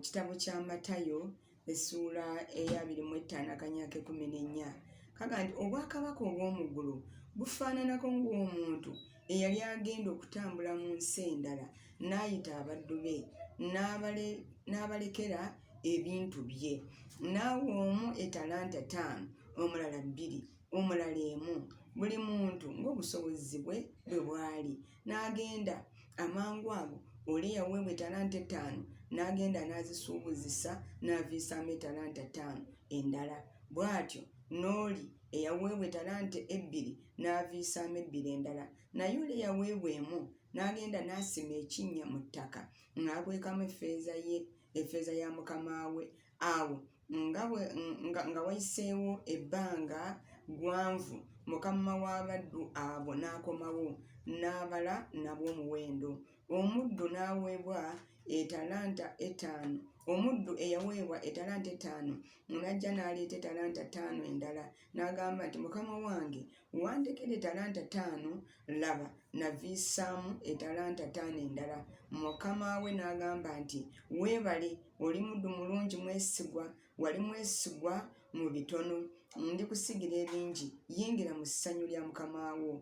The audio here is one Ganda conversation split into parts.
kitabo kya matayo essuula eyabiri mu ettaano akanyaka ekumi n'ennya kaga nti obwakabaka obw'omuggulu bufaananako ng'omuntu eyali agenda okutambula mu nsi endala n'ayita abaddu be n'abalekera ebintu bye n'awa omu etalanta ttaano omulala bbiri omulala emu buli muntu ng'obusobozi bwe bwe bwali n'agenda amangu ago oli eyaweebwa etalanta ettaano n'agenda n'azisuubuzisa n'aviisaamu etalanta ttaano endala bw'atyo n'oli eyaweebwa etalanta ebbiri n'aviisaamu ebbiri endala naye oli eyaweebwa emu n'agenda n'asima ekinnya mu ttaka n'akwekamu effeeza ye efeeza ya mukama we awo nga bwe nga, nga wayiseewo ebbanga gwanvu mukama w'abaddu abo n'akomawo n'abala nabo omuwendo omuddu n'aweebwa etalanta etaano omuddu eyaweebwa etalanta etaano n'ajja n'aleeta etalanta ttaano endala N'agamba nti, Mukama wange, wandekera etalanta taano, laba, naviisaamu etalanta taano endala. Mukama we n'agamba nti, Weebale, oli muddu mulungi mwesigwa, wali mwesigwa mu bitono, ndikusigira ebingi, yingira mu ssanyu lya mukama wo.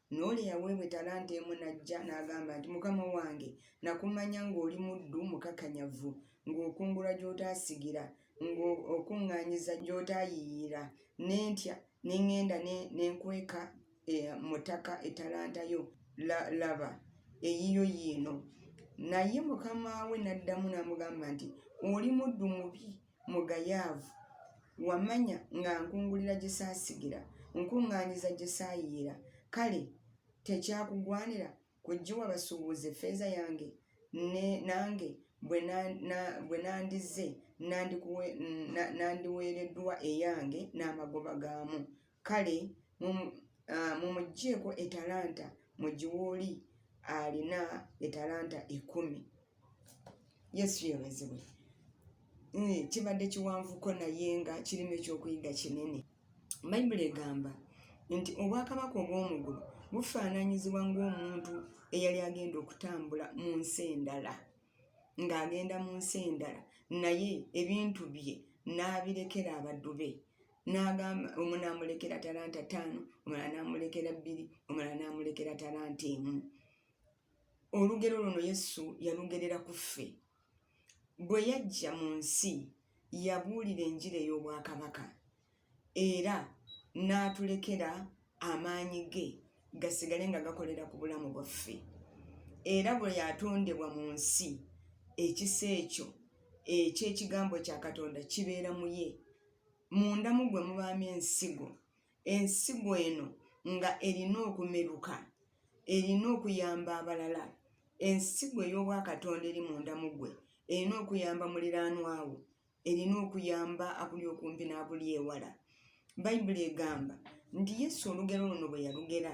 N'oli eyaweebwa etalanta emu n'ajja n'agamba nti, Mukama wange, nakumanya ng'oli muddu mukakanyavu, ng'okungula gy'otaasigira, ng'okuŋŋaanyiza gy'otaayiiyiira, ne ntya ne ŋŋenda ne nkweka e, mu ttaka etalanta yo, la, laba, eyiyo yiino. Naye mukama we n'addamu n'amugamba nti, Oli muddu mubi Mugayaavu, wamanya nga nkungulira gye saasigira, nkuŋŋaanyiza gye saayiira, kale tekyakugwanira kugiwa basuubuzi effeeza yange? Ne, nange bwe na, na, bwe nandizze nandikuwe, na, nandiweereddwa eyange n'amagoba gaamu. Kale mumuggyeeko etalanta mu giwooli alina etalanta ekumi. Yesu yebazibwe. Hmm, kibadde kiwanvuko naye nga kirimu ekyokuyiga kinene. Bayibuli egamba nti obwakabaka obw'omugulu bufaananyizibwa ng'omuntu eyali agenda okutambula mu nsi endala ng'agenda mu nsi endala naye ebintu bye n'abirekera abaddu be n'agamba omu n'amulekera talanta ttaano omulala n'amulekera bbiri omulala n'amulekera talanta emu olugero luno yesu yalugerera ku ffe bwe yajja mu nsi yabuulira enjira ey'obwakabaka era n'atulekera amaanyi ge gasigale nga gakolera ku bulamu bwaffe era bwe yatondebwa mu nsi ekisa ekyo eky'ekigambo kya katonda kibeera mu ye munda mu gwe mubaamu ensigo ensigo eno nga erina okumeruka erina okuyamba abalala ensigo ey'obwakatonda eri munda mu gwe erina okuyamba muliraanwawo erina okuyamba abuli okumpi n'abuli ewala bayibuli egamba nti yesu olugero luno bwe yalugera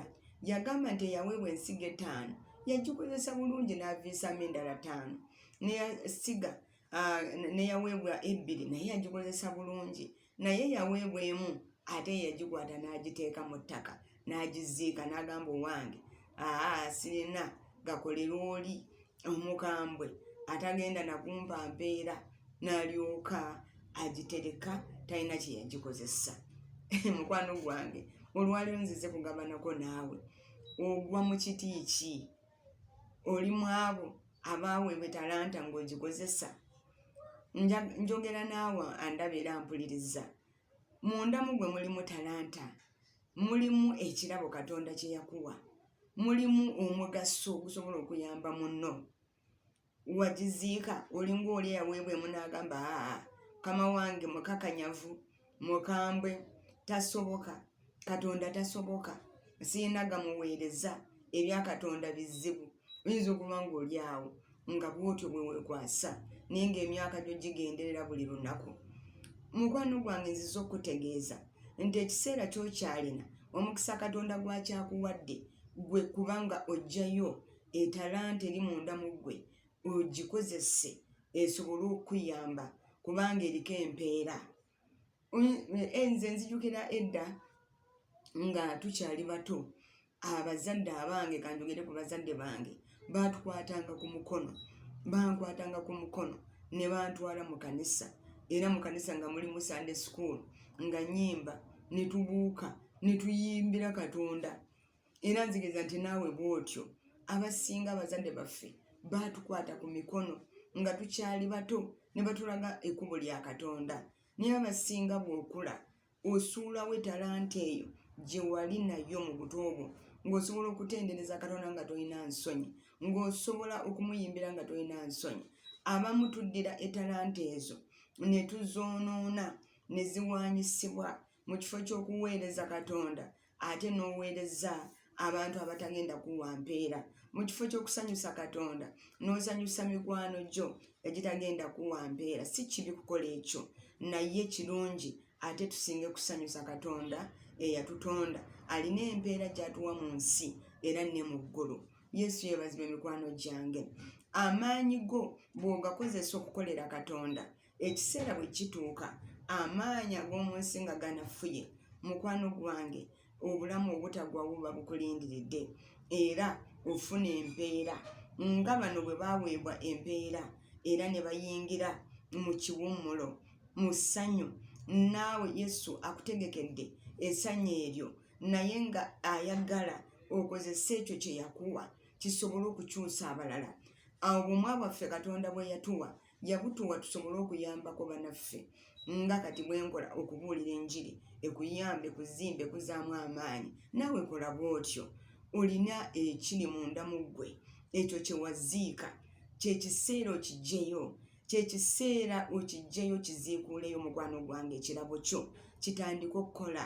yagamba nti eyaweebwa ensigo etaano yagikozesa bulungi n'aviisaamu endala taano neyasiga ah, neyaweebwa ebbiri naye yagikozesa bulungi naye yaweebwa emu ate yagikwata n'agiteeka mu ttaka n'agiziika n'agamba owange aa sirina gakolera oli omukambwe atagenda nakumpa mpeera n'alyoka agitereka talina kye yagikozesa mukwano gwange olwaliwo nzize kugabanako naawe ogwa mu kiti ki oli mwabo abaaweebwa talanta ng'ogikozesa njogera naawe andaba era mpuliriza munda mu gwe mulimu talanta mulimu ekirabo katonda kye yakuwa mulimu omugaso okusobola okuyamba munno wagiziika olinga oli eyaweebwa emu n'agamba aa kama wange mukakanyavu mukambwe tasoboka katonda tasoboka sirina gamuweereza ebya katonda bizibu oyinza okuba ng'oli awo nga bwotyo bwewekwasa naye ng'emyaka gyo gigenderera buli lunaku mukwano gwange nziza okutegeeza nti ekiseera kyokyalina omukisa katonda gwakyakuwadde gwe kubanga ojjayo etalanta eri munda mu ggwe ogikozese esobole okukuyamba kubanga eriko empeera eh, nze nzijukira edda nga tukyali bato abazadde abange kanjogere ku bazadde bange baatukwatanga ku mukono bankwatanga ku mukono ne bantwala mu kanisa era mu kanisa nga mulimu sunday school nga nyimba ne tubuuka ne tuyimbira katonda era nzikiriza nti naawe bwotyo abasinga abazadde baffe baatukwata ku mikono nga tukyali bato ne batulaga ekkubo lya katonda naye abasinga bw'okula osuulawo etalanta eyo gye wali nayo mu buto obwo ng'osobola okutendereza katonda nga tolina nsonyi ng'osobola okumuyimbira nga tolina nsonyi abamu tuddira etalanta ezo ne tuzoonoona ne ziwaanyisibwa mu kifo ky'okuweereza katonda ate n'oweereza abantu abatagenda kuwa mpeera mu kifo ky'okusanyusa katonda n'osanyusa mikwano gyo egitagenda kuwa mpeera si kibi kukola ekyo naye kirungi ate tusinge kusanyusa katonda eyatutonda alina empeera gyatuwa mu nsi era ne mu ggulu yesu yeebazibwa emikwano gyange amaanyi go bw'ogakozesa okukolera katonda ekiseera bwe kituuka amaanyi ag'omu nsi nga ganafuye mukwano gwange obulamu obutagwa buba bukulindiridde era ofuna empeera nga bano bwe baweebwa empeera era ne bayingira mu kiwummulo mu ssanyu naawe yesu akutegekedde essanyu eryo naye nga ayagala okozesa ekyo kye yakuwa kisobole okukyusa abalala awo bumwa bwaffe katonda bwe yatuwa yabutuwa tusobole okuyambako banaffe nga kati bwenkola okubuulira enjiri ekuyambe kuzimbe kuzaamu amaanyi naawe kola bwotyo olina ekiri munda mu ggwe ekyo kyewaziika kyekiseera okijjeyo kyekiseera okijjeyo kiziikuuleyo mukwano gwange ekirabo kyo kitandika okukola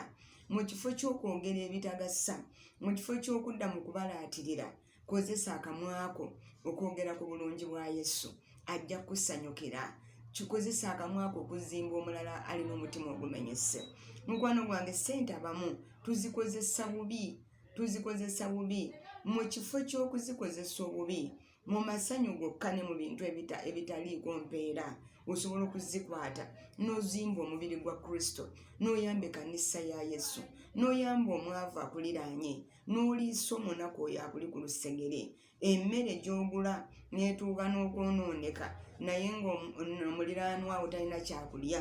mu kifo ky'okwongera ebitagasa mu kifo ky'okudda mu kubalaatirira Kozesa akamwa ko okwogera ku bulungi bwa Yesu. Ajja kukusanyukira. Kikozesa akamwa ko okuzimba omulala alina omutima ogumenyese. Mukwano gwange, ssente abamu tuzikozesa bubi, tuzikozesa bubi. Mu kifo ky'okuzikozesa obubi, mu masanyu gokka ne mu bintu ebitaliiko mpeera, osobola okuzikwata n'ozimba omubiri gwa Kristo, n'oyamba ekkanisa ya Yesu, n'oyamba omwavu akuliraanye. n'oliisa omunaku oyo akuli ku lusegere emmere gy'ogula n'etuuka n'okwonooneka naye ng'omuliraanwa awo talina kyakulya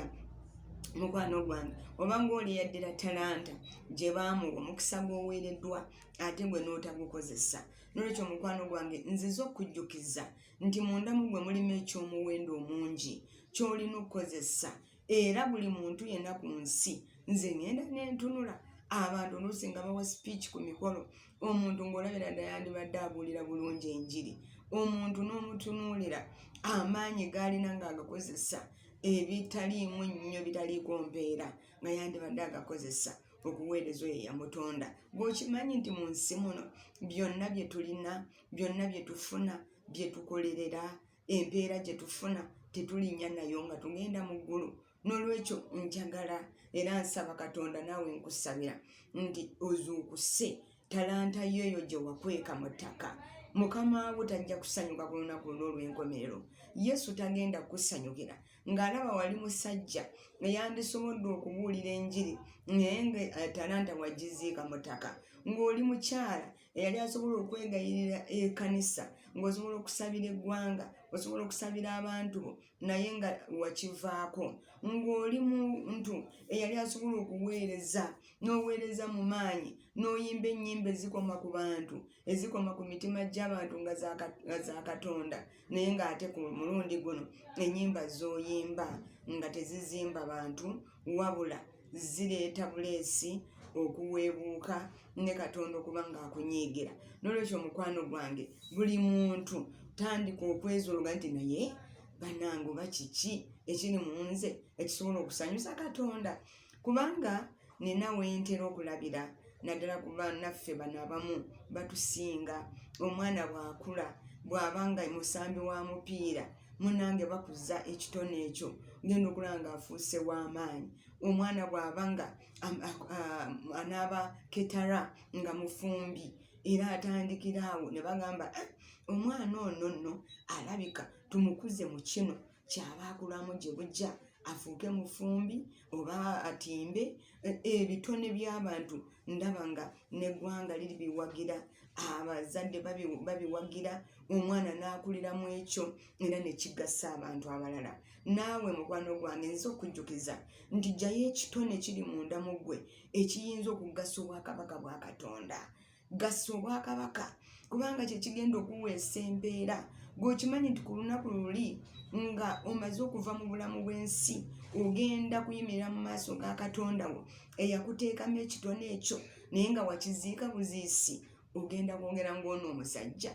mukwano gwange oba ng'oli yaddira talanta gye baamuwa omukisa gw'oweereddwa ate gwe n'otagukozesa nolwekyo mukwano gwange nziza okujjukiza nti mundamu gwe mulimu eky'omuwendo omungi ky'olina okukozesa era buli muntu yenna ku nsi nze ngenda nentunula abantu oluusi nga bawa speech ku mikolo omuntu ng'olabira dda yandibadde abuulira bulungi enjiri omuntu n'omutunuulira amaanyi gaalina ng'agakozesa ebitaliimu nnyo bitaliiko mpeera nga yandibadde agakozesa okuweereza oyo yamutonda bw'okimanyi nti mu nsi muno byonna bye tulina byonna bye tufuna bye tukolerera empeera gye tufuna tetulinnya nayo nga tugenda mu ggulu n'olwekyo njagala era nsaba katonda naawe nkusabira nti ozuukuse talanta yo eyo gye wakweka mu ttaka mukama wo tajja kusanyuka ku lunaku olw'olwenkomerero yesu tagenda kukusanyukira ng'alaba wali musajja eyandisobodde okubuulira enjiri naye nga eh, talanta wagiziika mu ttaka ng'oli mukyala eyali asobola okwegayirira ekanisa ngaosobola okusabira eggwanga osobola okusabira abantu bo naye nga wakivaako ng'oli muntu eyali asobola okuweereza n'oweereza mu maanyi n'oyimba ennyimba ezikoma ku bantu ezikoma ku mitima gy'abantu nga za katonda naye ng'ate ku mulundi guno ennyimba z'oyimba nga tezizimba bantu wabula zireeta buleesi okuweebuuka ne katonda okuba ng'akunyiigira n'olwekyo omukwano gwange buli muntu tandika okwezologa nti naye banange oba kiki ekiri mu nze ekisobola okusanyusa katonda kubanga nina wentera okulabira naddala ku banaffe bano abamu batusinga omwana bwakula bwaba nga musambi wa mupiira munange bakuza ekitone ekyo ngenda okulaba nga afuuse w'amaanyi omwana bwaba nga anaaba ketara nga mufumbi era atandikira awo ne bagamba eh, omwana ono nno alabika tumukuze mu kino kyaba akulamu gye bujja afuuke mufumbi oba atimbe e, ebitone by'abantu ndaba nga neggwanga liri biwagira abazadde babiwagira omwana n'akulira mu ekyo era nekigasa abantu abalala naawe mukwano gwange nza okujjukiza nti jayo ekitone kiri munda mu ggwe ekiyinza okugasa obwakabaka bwa katonda gassa obwakabaka kubanga kyekigenda okuweesa embeera gweokimanyi nti ku lunaku luli nga omaze okuva mu bulamu bw'ensi ogenda kuyimirira mu maaso ga katonda wo eyakuteekamu ekitone ekyo naye nga wakiziika buziisi ogenda kwongera ngaono omusajja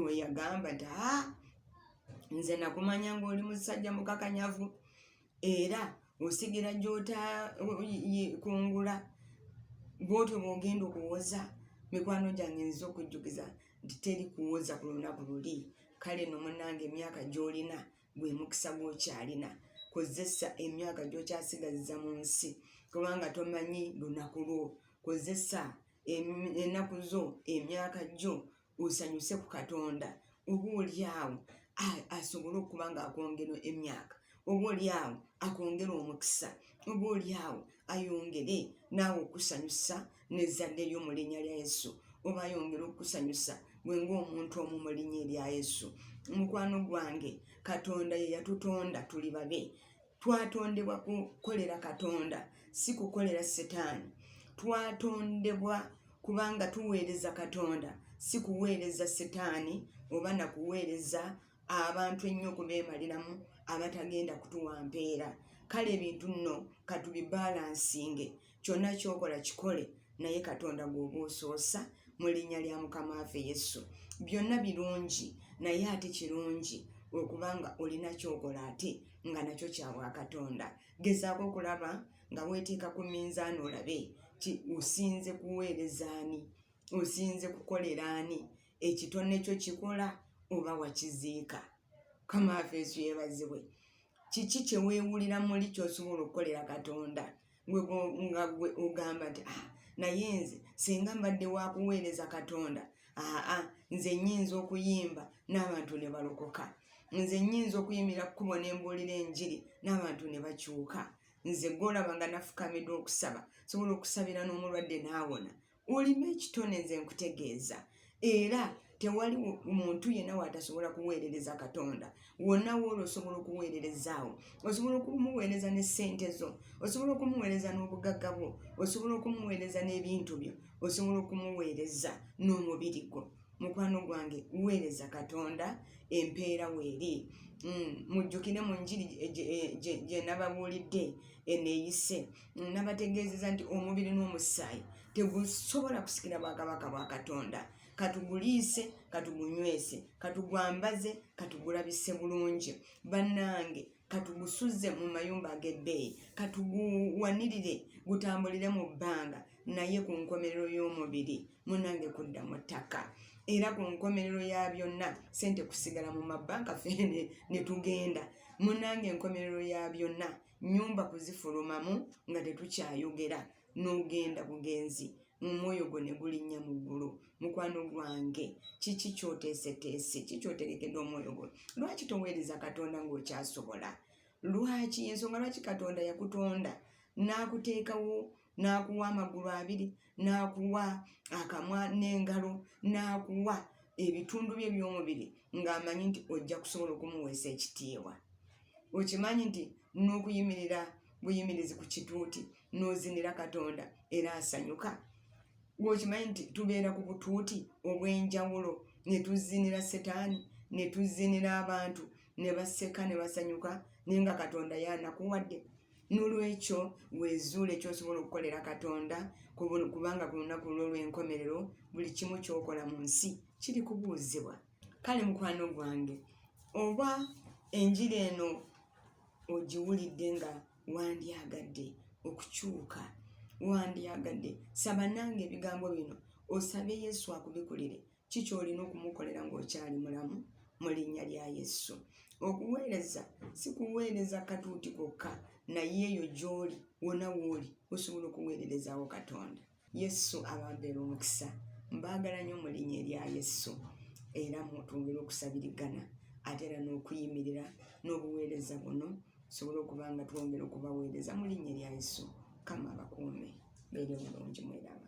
weyagamba nti a nze nakumanya ngaoli musajja mukakanyavu era osigira gy'otakungula bwotyo bwogenda okuwoza mikwano gyange nziza okujjukiza nti teri kuwoza ku lunaku luli kale no munange emyaka gy'olina gwe mukisa gwokyalina kozesa emyaka gyokyasigazza mu nsi kubanga tomanyi lunaku lwo kozesa enaku zo emyaka gyo osanyuse ku katonda oba olyawo asobole okuba nga akwongera emyaka oba olyawo akwongera omukisa oba olyawo ayongere naawe okusanyusa nezzadde lyo mu linnya lya yesu oba ayongere okusanyusa gwe ngaomuntu omu mu linnya erya yesu mukwano gwange katonda ye yatutonda tuli babe twatondebwa kukolera katonda si kukolera setaani twatondebwa kubanga tuweereza katonda si kuweereza setaani oba na kuweereza abantu ennyo okubeemaliramu abatagenda kutuwa mpeera kale ebintu nno katubibalansinge kyonna kyokola kikole naye katonda gwoba osoosa mu linnya lya mukama waffe yesu byonna birungi naye ate kirungi okubanga olina kyokola ate nga nakyo kyabwa katonda gezaako okulaba nga weteeka ku minzaani olabe ti osinze kuweerezaani osinze kukoleraani ekitone kyo kikola oba wakiziika kama afeesu yebazibwe kiki kyewewulira muli kyosobola okukolera katonda nga gwe ogamba nti ah, naye nze singa mbadde wakuweereza katonda aa ah, ah, nze nyinza okuyimba n'abantu ne balokoka nze nyinza okuyimira kkubo ne mbuulira enjiri n'abantu ne bakyuka nze gwolaba nga nafukamidwa okusaba sobola okusabira n'omulwadde n'awona olima ekitone nze nkutegeeza era tewali muntu yenna waatasobola kuweerereza katonda wonna wooli osobola okuweererezaawo osobola okumuweereza ne ssente zo osobola okumuweereza n'obugagga bwo osobola okumuweereza n'ebintu byo osobola okumuweereza n'omubiri gwo mukwano gwange weereza katonda empeera weeri mm, mujjukire mu njiri gyenababuulidde eneeyise e, e, e, nabategeezeza nti omubiri n'omusaayi tegusobola kusikira bwakabaka bwa katonda katuguliise katugunywese katugwambaze katugulabise bulungi bannange katugusuze mu mayumba ag'ebbeeyi katuguwanirire gutambulire mu bbanga naye ku nkomerero y'omubiri munange kudda mu ttaka era ku nkomerero ya byonna sente kusigala mu mabbanka fe ne tugenda munange enkomerero ya byonna nyumba kuzifulumamu nga tetukyayogera n'ogenda bugenzi omwoyo gwo ne gulinnya mu ggulu mukwano gwange kiki kyoteeseteese ki kyotegekedde omwoyo gwo lwaki toweereza katonda ng'okyasobola lwaki ensonga lwaki katonda yakutonda n'akuteekawo n'akuwa amagulu abiri n'akuwa akamwa n'engalo n'akuwa ebitundu bye by'omubiri ng'amanyi nti ojja kusobola okumuweesa ekitiibwa okimanyi nti n'okuyimirira buyimirizi ku kituuti n'ozinira katonda era asanyuka gweokimanyi nti tubeera ku butuuti obw'enjawulo ne tuzinira setaani ne tuzinira abantu ne baseka ne basanyuka naye nga katonda yaanakuwadde N'olwekyo weezuule ky'osobola okukolera Katonda kubanga ku lunaku lulwo lw'enkomerero buli kimu ky'okola mu nsi kiri kubuuzibwa. Kale mukwano gwange, oba enjiri eno ogiwulidde nga wandyagadde okukyuka, wandyagadde saba nange ebigambo bino osabe Yesu akubikulire ki ky'olina okumukolera ng'okyali mulamu mu linnya lya yesu okuweereza si kuweereza katuuti kokka naye eyo gy'oli wona wooli osobola okuweererezaawo katonda yesu ababeera omukisa mbaagala nnyo mu linnya erya yesu era mutwongere okusabirigana ate era n'okuyimirira n'obuweereza buno tusobole okuba nga twongera okubaweereza mu linnya erya yesu kama abakuume beeri omulungi mweraba